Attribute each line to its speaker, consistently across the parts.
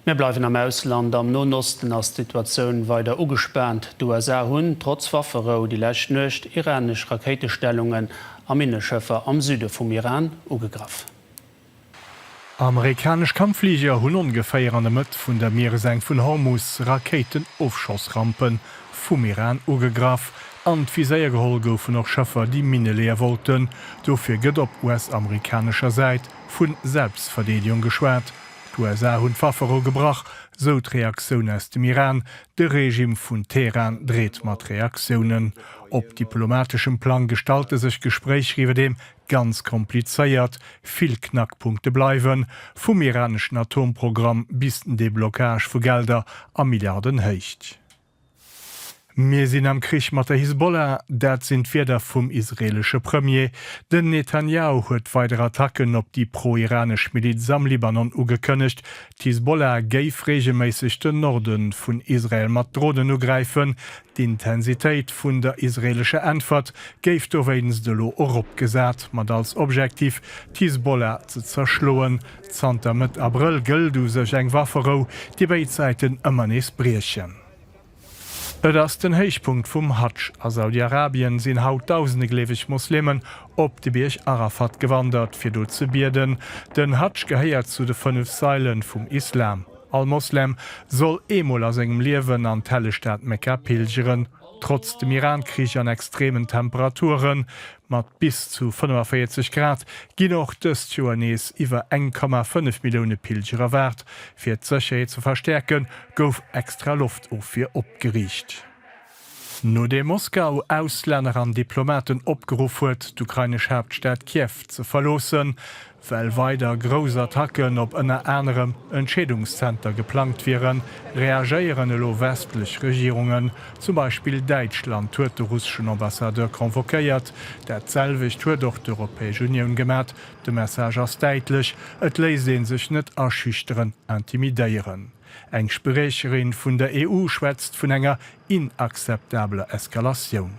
Speaker 1: Mir bleiwen am Ausland, Am Noen Osten ass d'Situatioun weider ugespaant. D'USA hunn, trotz Wafferou, déi lescht Nuecht iranesch Rakéitestellungen a Minneschëffer am Süde vum Iran ugegraff. Amerikanesch
Speaker 2: Kampffliger hunn ongeféier an der Mëtt vun der Miereseng vun Hormus Rakéitenofschossrampe vum Iran ugegraff. An d'Viséier geholl goufen och Schëffer, déi Minne leeë wollten. Dofir gëtt op US-amerikanescher Säit Vu Selbstverdeedegung geschwat, d'USA hunn d'Waffe erogebrach, sou d'Reaktioun aus dem Iran. De Regime vun Teheran dreet mat Reaktiounen. Op diplomateschem Plang gestalte sech d'Gespréicher iwwerdeem ganz komplizéiert. Vill Knackpunkte bleiwen, vum iraneschen Atomprogramm bis den Deblockage vu Gelder a Milliardenhéicht. Mir sinn am Krich mat der Hisbollah, dat sinn d'Wierder vum israeelesche Premier. Den Netanjahu huet weider Attacken op déi pro-iranesch Miliz am Libanon ugekënnegt. D'Hisbollah géif reegelméisseg den Norde vun Israel mat Dronen ugräifen. D'Intensitéit vun der israeelescher Äntwert géif dowéinst elo eropgesat, mat als Objektiv, d'Hisbollah ze zerschloen. Zanter Mëtt Abrëll gëllt u sech eng Wafferou, déi béid Säiten ëmmer nees briechen. Et ass den Héichpunkt vum Hadsch. A Saudi-Arabien sinn haut dausende gleeweg Moslemen op de Bierg Arafat gewandert, fir do ze bieden. Den Hadsch gehéiert zu de fënnef Saile vum Islam. All Moslem soll eemol a sengem Liewen an d'helleg Stad Mekka pilgeren. Trotz dem Iran-Krich an extremen Temperaturen, mat bis zu 45 Grad, ginn och dëst Joer nees iwwer 1,5 Millioune Pilger erwaart. Fir d'Sécherheet ze verstäerken, gouf extra Loftofwier opgeriicht. Nodeem Moskau Auslänner an Diplomaten opgeruff huet, d'ukrainesch Haaptstad Kiew ze verloossen, Well weider grouss Attacken op ënner anerem Entscheedungszenter geplangt wieren, reagéieren elo westlech Regierungen. Zum Beispill Däitschland huet de russeschen Ambassadeur convoquéiert. Dat selwecht huet och d'Europäesch Unioun gemat. De Message ass däitlech, et léisst ee sech net aschüchteren, intimidéieren. Eng Spriecherin vun der EU schwätzt vun enger inakzeptabler Eskalatioun.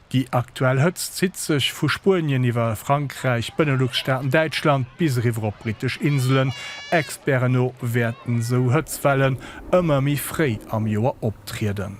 Speaker 3: Déi aktuell
Speaker 2: Hëtzt zitt sech vu Spuenien iwwer Frankräich, Benelux-Staaten, Däitschland bis eriwwer op brittesch Inselen. Experten no wäerten esou Hëtzwellen ëmmer méi fréi am Joer optrieden.